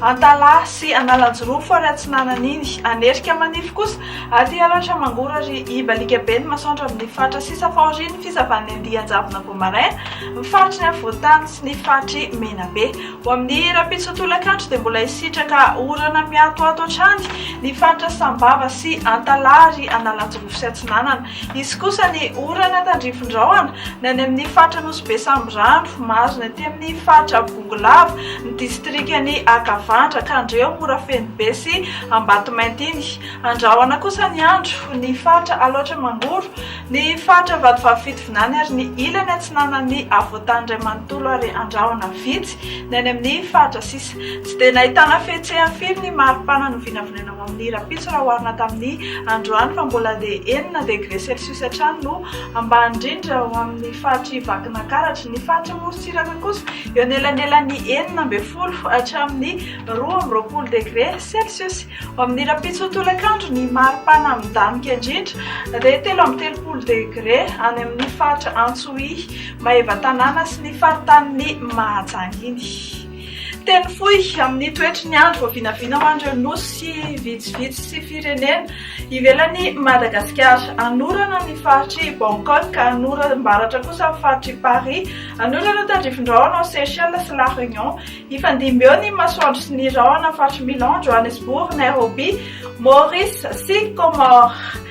Antalaha sy Analanjirofo ary atsinanan'iny, Anerika manify kosa, aty aloatra mangora ry Ibaliaka be ny masoandro amin'ny faritra sisa fahorian'ny fisavan'ny andian-javona vao maraina, ny faritry ny afovoan-tany sy ny faritr'i Menabe. Ho amin'ny rahampitso tolakandro dia mbola hisitraka orana mihatohato hatrany ny faritra Sambava sy Antalaha ary Analanjirofo sy atsinanana. Hisy kosa ny orana tandrifin-drahona ny any amin'ny faritra Nosy be Sambirano, Marina aty amin'ny faritra. Bongolava, ny distrikan'i Akavandra, Kandreho, Morafenobe sy Ambatomainty iny. Andrahona kosa ny andro, ny faritra Alaotra Mangoro, ny faritra Vatovavy Fitovinany ary ny ilany atsinanan'ny havoantany iray manontolo ary andrahona vitsy ny any amin'ny faritra sisa. Tsy dia nahitana fihetsehany firy ny maripana novinavinaina ho amin'ny rahampitso raha oharina tamin'ny androany fa mbola dia enina degre celsius hatrany no ambany indrindra ho amin'ny faritr'i Vakinakaratra. Ny faritra Tsiraka kosa eo anelanelan'ny enina ambin'ny folo hatramin'ny roa amby roapolo degre celsius. Ho amin'ny rahampitso tolakandro, ny maripana midamoka indrindra dia telo amby telopolo degre any amin'ny faritra Antsohihy, Maevatanàna sy ny faritanin'i Mahajanga iny. Teny fohy amin'ny toetry ny andro voavinavina ho an'ireo nosy vitsivitsy sy firenena ivelan'i Madagasikara. Anorana ny faritr'i Bangkok, anoram-baratra kosa ny faritr'i Paris, anorana ny tandrifindrahona ao Seychelles sy La Réunion. Hifandimby eo ny masoandro sy ny rahona amin'ny faritr'i Milan, Johannesburg, Nairobi, Maurice sy Comores.